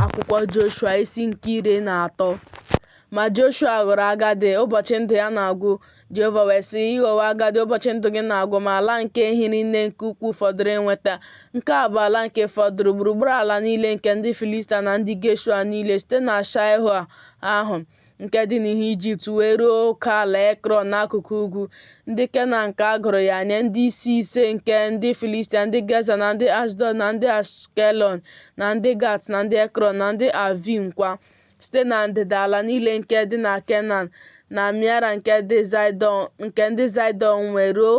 akwụkwọ Joshua isi nke iri na atọ ma Joshua ghọrọ agadi ụbọchị ndụ ya na-agwụ Jehova wee sị ị ghọwo agadi ụbọchị ndụ gị na-agwụ ma ala nke hiri nne nke ukwuu fọdụrụ inweta nke a bụ ala nke fọdụrụ gburugburu ala niile nke ndị Filistia na ndị Geshua niile site na Shaịho ahụ nke dị n'ihu Ijipt wee ruo oke ala Ekrọn n'akụkụ ugwu. Ndị Kenan ka a gụrụ ya nye ndị isi ise nke ndị Filistia, ndị Geza na ndị Ashdọd na ndị Ashkelọn na ndị Gat na ndị Ekrọn na ndị Avim kwa, site na ndịda ala niile nke dị na Kenan na Miara nke ndị Zaịdọn wee ruo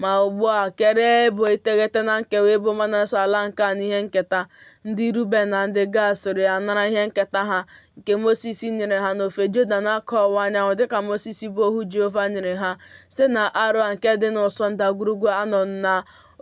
Ma ugbu a, keere ebo iteghete na nkewa ebo Manase ala nke a n'ihe nketa. Ndị Ruben na ndị Gad soro ya nara ihe nketa ha, nke Mosis nyere ha n'ofe Jọdan n'akụkụ ọwụwa anyanwụ, dịka Mosis bụ ohu Jehova nyere ha, site na Aroa nke dị n'ụsọ ndagwurugwu Anọn na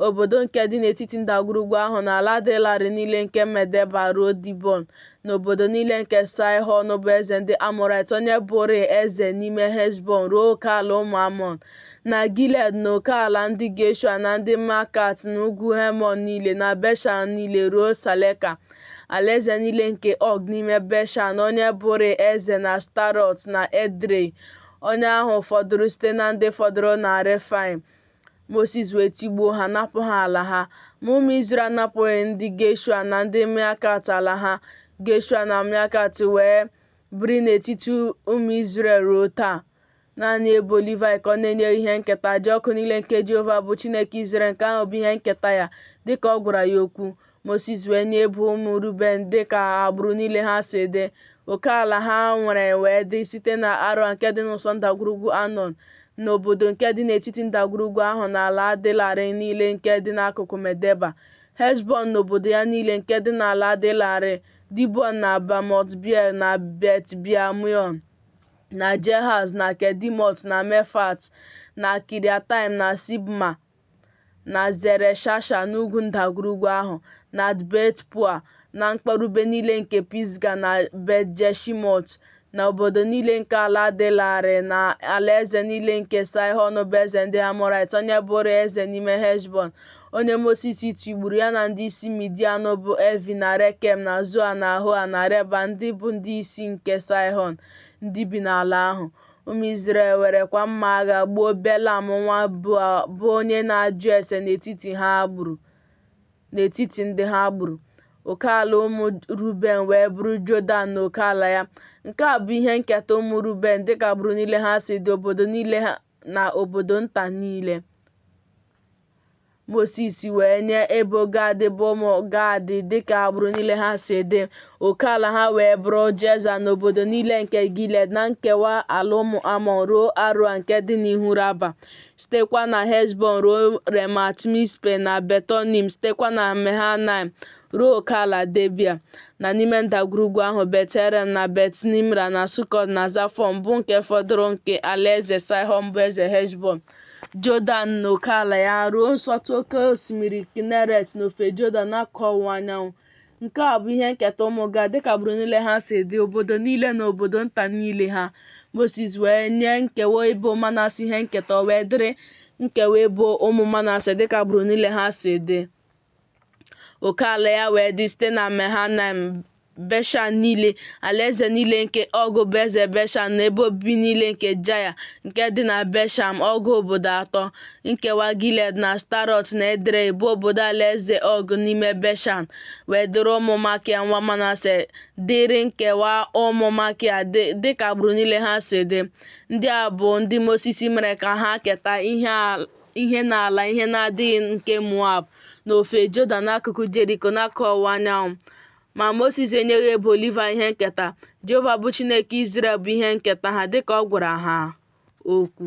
obodo nke dị n'etiti ndagwurugwu ahụ na ala dị larịị niile nke Medeba ruo Dibọn, na obodo niile nke Saịhọn bụ eze ndị Amọraịt, onye bụrịị eze n'ime Heshbọn, ruo oke ala ụmụ Amọn. na Gilead na oke ala ndị Geshua na ndị Makat na ugwu Hemon niile na Beshan niile ruo Saleka, alaeze niile nke Og n'ime Beshan, onye bụrị eze na Ashtarọt na Edrei, onye ahụ fọdụrụ site na ndị fọdụrụ na Refaim. Mosis wee tigbuo ha, napụ ha ala ha. Ma ụmụ Izrel anapụghị ndị Geshua na ndị Makat ala ha. Geshua na Makat wee biri n'etiti ụmụ Izrel ruo taa. Naanị ebo Livaị ka ọ na-enyeghị ihe nketa, aja ọkụ niile nke Jehova bụ Chineke Izrel, nke ahụ bụ ihe nketa ya, dị ka ọ gwara ya okwu. Mosis wee nye ebo ụmụ Ruben dị ka agbụrụ niile ha si dị. Oke ala ha nwere wee dị site na Aroa nke dị n'ụsọ ndagwurugwu Anọn, na obodo nke dị n'etiti ndagwurugwu ahụ na ala dị larịị niile nke dị n'akụkụ Medeba, Heshbọn na obodo ya niile nke dị n'ala dị larịị, Dibọn na Bamot Beal na Bet Beal Meon. na Jehaz na Kedimot na Mefat na Kiriataim na Sibma na Zereshasha n'ugwu ndagwurugwu ahụ, na Bet-peoa na mkpọrube niile nke Pisga na Bet-jeshimọt, na obodo niile nke ala dị larịị, na alaeze niile nke Saịhọn bụ eze ndị Amọrait, onye bụrụ eze n'ime Heshbọn, onye Mosis tigburu, ya na ndị isi Midian bụ Evi na Rekem na Zoa na Hoa na Reba, ndị bụ ndị isi nke Saịhọn. ndị bi n'ala ahụ. Ụmụ Izrel werekwa mma agha gbuo Belam nwa Beoa bụ onye na-ajụ ese n'etiti ha gburu n'etiti ndị ha gburu. Oke ala ụmụ Ruben wee bụrụ Jọdan na oke ala ya. Nke a bụ ihe nketa ụmụ Ruben dịka agbụrụ niile ha si dị, obodo niile na obodo nta niile. Mosis wee nye ebo Gad bụ ụmụ Gad dịka agbụrụ niile ha si dị. Oke ala ha wee bụrụ Jeza na obodo niile nke Gilead na nkewa ala ụmụ Amọn ruo Aroa nke dị n'ihu Raba, sitekwa na Heshbọn ruo Remat Mispe na Betonim, sitekwa na Mehanaim ruo okeala Debia, na n'ime ndagwurugwu ahụ Bet Heram na Bet Nimra na Sukọt na Zafọn bụ nke fọdụrụ nke alaeze Saịhọn bụ eze Heshbọn, Jọdan na okeala ya ruo nsọtụ oke osimiri Kineret n'ofe Jọdan n'akụkụ ọwụwa anyanwụ. Nke a bụ ihe nketa ụmụ Gad dịka agbụrụ niile ha si dị, obodo niile na obodo nta niile ha. Mosis wee nye nkewa ebo Manase ihe nketa, o wee dịrị nkewa ebo ụmụ Manase dịka agbụrụ niile ha si dị. oke ala ya wee dị site na Mehanaim Beshan niile alaeze niile nke Ọg bụ eze Beshan na ebe obibi niile nke Jaya nke dị na Beshan ọgụ obodo atọ nkewa Gilead na Ashtarọt na Edrei bụ obodo alaeze Ọg n'ime Beshan wee dịrị ụmụ Makia nwa Manase dịrị nkewa ụmụ Makia dịka agbụrụ niile ha si dị ndị a bụ ndị Mosis mere ka ha keta ihe ihe n'ala ihe na-adịghị nke Moab n'ofe Jọdan n'akụkụ Jeriko n'akụkụ ọwụwa anyanwụ. Ma Mosis enyeghị ebo Livaị ihe nketa, Jehova bụ Chineke Izrel bụ ihe nketa ha dịka ọ gwara ha okwu.